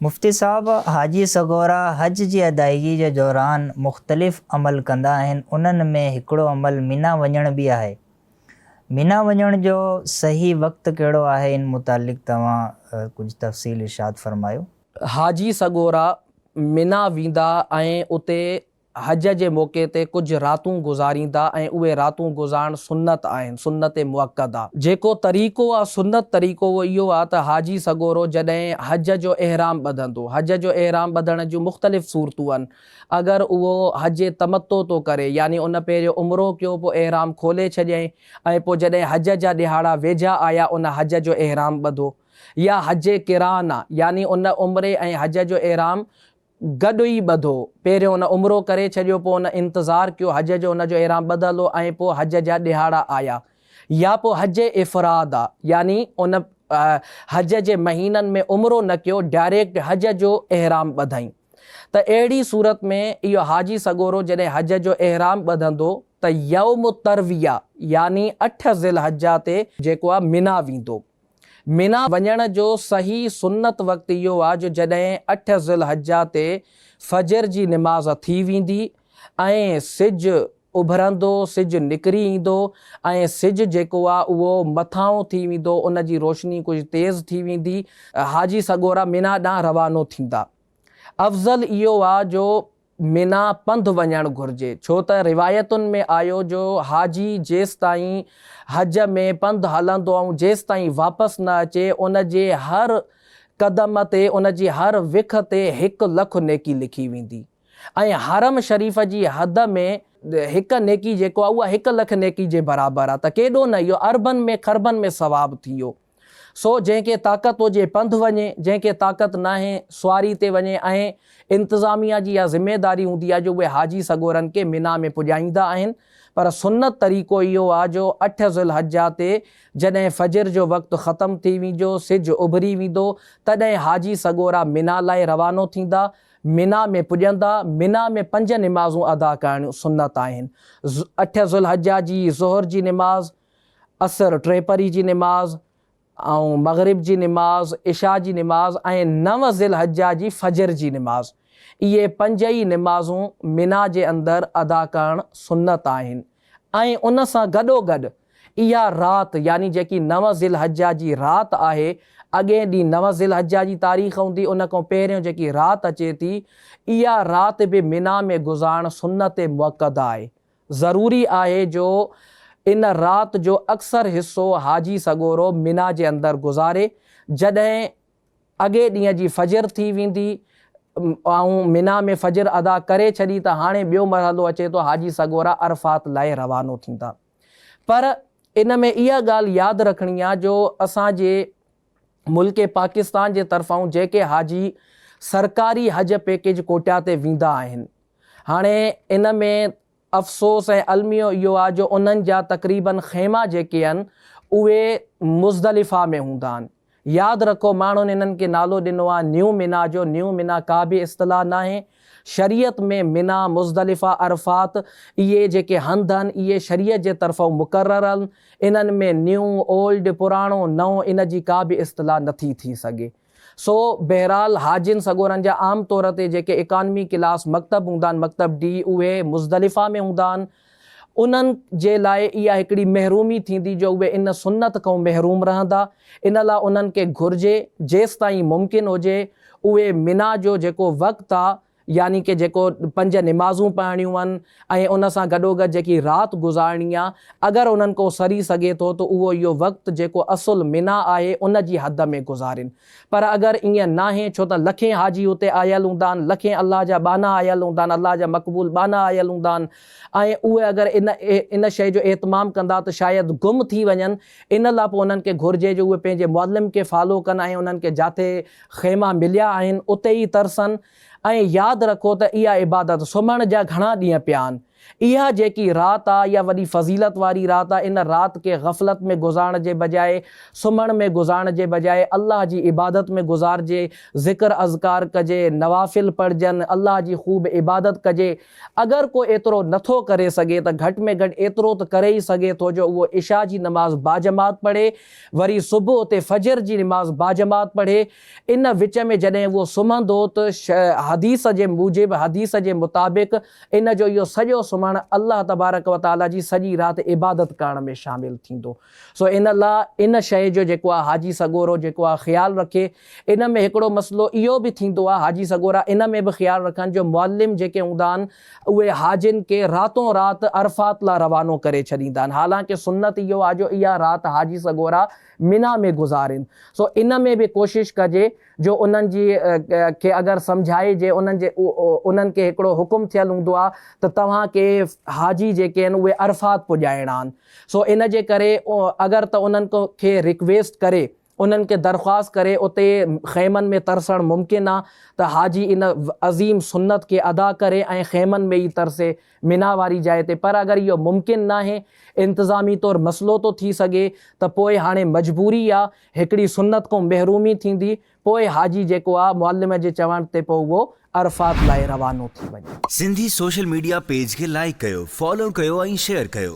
مفتي صاحب، حاجي سڳورا حج جي ادائيگي جي دوران مختلف عمل ڪندا آهن، انهن ۾ هڪڙو عمل مينا وڃڻ به آهي. مينا وڃڻ جو صحيح وقت ڪهڙو آهي ان متعلق توهان ڪجهه تفصيل ارشاد فرمايو. حاجي سڳورا مينا ويندا ۽ اتي حج جي موقعي تي ڪجهه راتون گذاريندا ۽ اهي راتون گذارڻ سنت آهن، سنت مؤڪده. جيڪو طريقو آ سنت طريقو اهو اهو آ ته حاجي سڳورو جڏهن حج جو احرام ٻڌندو، حج جو احرام ٻڌڻ جون مختلف صورتون ان، اگر اهو حج تمتع ٿو ڪري يعني ان پهريون عمرو ڪيو پوء احرام کولي ڇڏيائين ۽ پوء جڏهن حج جا ڏهاڙا ويجها آيا ان حج جو احرام ٻڌو يا حج قران آ يعني ان عمري ۽ حج جو احرام گڏ ئي ٻڌو. پهريون ان عمرو ڪري ڇڏيو پوء ان انتظار ڪيو حج جو ان جو احرام ٻڌل هو ۽ پوء حج جا ڏهاڙا آيا يا پوء حج افراد آ يعني ان حج جي مهينن ۾ عمرو نه ڪيو ڊائريڪٽ حج جو احرام ٻڌائين ته اهڙي صورت ۾ اهو حاجي سڳورو جڏهن حج جو احرام ٻڌندو ته يوم التروية يعني اٺ ذوالحجة تي جيڪو آ منيٰ ويندو. منيٰ وڃڻ جو صحيح سنت وقت اهو آهي جو جڏهن اٺ ذوالحجه تي فجر جي نماز ٿي ويندي ۽ سج اڀرندو، سج نڪري ايندو ۽ سج جيڪو آهي اهو مٿانهون ٿي ويندو، ان جي روشني ڪجهه تيز ٿي ويندي. حاجي سڳورا منيٰ ڏانهن روانو ٿيندا. افضل اهو آهي جو. منا پنڌ وڃڻ گهرجي ڇو ته روايتن ۾ آيو جو حاجي جيستائين حج ۾ پنڌ هلندو ۽ جيستائين واپس نه اچي ان جي هر قدم تي ان جي هر وک تي هڪ لک نيڪي لکي ويندي ۽ حرم شريف جي حد ۾ هڪ نيڪي جيڪو آهي اها هڪ لک نيڪي جي برابر آهي ته ڪيڏو نه اهو اربن ۾ خربن ۾ ثواب ٿي ويو. سو جنهن کي طاقت هجي پنڌ وڃي، جنهن کي طاقت ناهي سواري تي وڃي ۽ انتظاميه جي اها ذميواري هوندي آهي جو اهي حاجي سڳورن کي منا ۾ پڄائيندا آهن پر سنت طريقو اهو آهي جو اٺ ذوالحجه تي جڏهن فجر جو وقت ختم ٿي وينجو سج اڀري ويندو تڏهن حاجي سڳورا منا لاء روانو ٿيندا منا ۾ پڄندا منا ۾ پنج نمازون ادا ڪرڻيون سنت آهن اٺ ذوالحجه جي ظهر جي نماز عصر، ٽي پھري جي نماز ۽ مغرب جي نماز، عشاء جي نماز ۽ نو ذوالحجه جي فجر جي نماز. اھي پنج ئي نمازون منيٰ جي اندر ادا ڪرڻ سنت آھن ۽ ان سان گڏوگڏ اھا رات يعني جيڪي نو ذوالحجه جي رات آھي، اڳئين ڏينھن نو ذوالحجه جي تاريخ ھوندي ان کان پهريون جيڪي رات اچي ٿي اھا رات به منيٰ ۾ گذارڻ سنت مؤڪده آھي ضروري آهي جو ان رات جو اڪثر حصو حاجي سڳورو منيٰ جي اندر گذاري، جڏهن اڳئي ڏينهن جي فجر ٿي ويندي، ماڻهو منيٰ ۾ فجر ادا ڪري ڇڏي ته هاڻي ٻيو مرحلو اچي ٿو حاجي سڳورا عرفات لاء روانو ٿيندا پر ان ۾ اها ڳالهه ياد رکڻي آهي جو اسان جي ملڪ پاڪستان جي طرفان جيڪي حاجي سرڪاري حج پيڪيج ڪوٽا تي ويندا آهن هاڻي ان ۾ افسوس ۽ الميو اهو آ جو انهن جا تقريباً خيما جيڪي ان اهي مزدلفه ۾ هوندا آهن ياد رکو ماڻهن انهن کي نالو ڏنو آ نيو منا جو نيو منا ڪا به اصطلاح ناهي شريعت ۾ منيٰ، مزدلفه، عرفات اهي جيڪي هنڌ آهن اهي شريعت جي طرفئون مقرر آهن، انهن ۾ نيو، Old، پراڻو، نئون ان جي ڪا به اصطلاح نٿي ٿي سگهي. سو بهرحال حاجين سڳورن جا عام طور تي جيڪي اڪانومي ڪلاس مڪتب هوندا آهن مڪتب ڊي اهي مزدلفه ۾ هوندا آهن انهن جي لاء اها هڪڙي محرومي ٿيندي جو اهي ان سنت کان محروم رهندا، ان لاء انهن کي گهرجي جيستائين ممڪن هجي اهي منيٰ جو جيڪو وقت آ يعني ڪه جيڪو پنج نمازون پڙهڻيون آهن ۽ ان سان گڏوگڏ جيڪي رات گذارڻي آ اگر انهن کان سري سگهي ٿو ته اهو اهو وقت جيڪو اصل منيٰ آهي ان جي حد ۾ گذارين پر اگر ائين ناهي ڇو ته لکين حاجي اتي آيل هوندا آهن، لکين الله جا ٻانها آيل هوندا آهن، الله جا مقبول ٻانها آيل هوندا آهن ۽ اهي اگر ان ان شيء جو اهتمام ڪندا ته شايد گم ٿي وڃن، ان لاء پوء انهن کي گهرجي جو اهي پنهنجي معلم کي فالو ڪن ۽ انهن کي جاٿي خيما مليا آهن اتي ئي ترسن ۽ ياد رکو ته اها عبادت سمهڻ جا گهڻا ڏينهن پيا آهن. اها جيڪي رات آ اها وڏي فضيلت واري رات آ ان رات کي غفلت ۾ گذارڻ جي بجاء سمهڻ ۾ گذارڻ جي بجاء الله جي عبادت ۾ گذارجي ذڪر اذڪار ڪجي نوافل پڙهجن الله جي خوب عبادت ڪجي اگر ڪو ايترو نٿو ڪري سگهي ته گهٽ ۾ گهٽ ايترو ته ڪري ئي سگهي ٿو جو اهو عشاء جي نماز باجماعت پڙهي وري صبح اتي فجر جي نماز باجماعت پڙهي ان وچ ۾ جڏهن اهو سمهندو ته حديث جي موجب حديث جي مطابق ان جو اهو سڄو سمهڻ الله تبارڪ و تعاليٰ جي سڄي رات عبادت ڪرڻ ۾ شامل ٿيندو. سو ان لاء ان شيء جو جيڪو آ حاجي سڳورو جيڪو آ خيال رکي. ان ۾ هڪڙو مسئلو اهو به ٿيندو آ، حاجي سڳورا ان ۾ به خيال رکن جو معلم جيڪي هوندا آهن اهي حاجين کي راتون رات عرفات لاء روانو ڪري ڇڏيندا آهن. حالانڪه سنت اهو آ جو اها رات حاجي سڳورا منيٰ ۾ گذارين. سو ان ۾ به ڪوشش ڪجي جو انهن جي کي اگر سمجهائجي انهن جي انهن کي هڪڙو حڪم ٿيل هوندو آ ته توهان کي حاجي جيڪي آهن اهي عرفات پڄائڻا آهن سو ان جي ڪري اگر ته انهن کي ريڪويسٽ ڪري انهن کي درخواست ڪري اتي خيمن ۾ ترسڻ ممڪن آ ته حاجي ان عظيم سنت کي ادا ڪري ۽ خيمن ۾ ئي ترسي منيٰ واري جاء تي پر اگر اهو ممڪن ناهي انتظامي طور مسئلو ٿو ٿي سگهي ته پوء هاڻي مجبوري آ هڪڙي سنت ڪو محرومي ٿيندي، پوء حاجي جيڪو آ معلم جي چوڻ تي پوء اهو عرفات لاء روانو ٿي وڃي. سنڌي سوشل ميڊيا پيج کي لائيڪ ڪيو، فالو ڪيو ۽ شيئر ڪيو.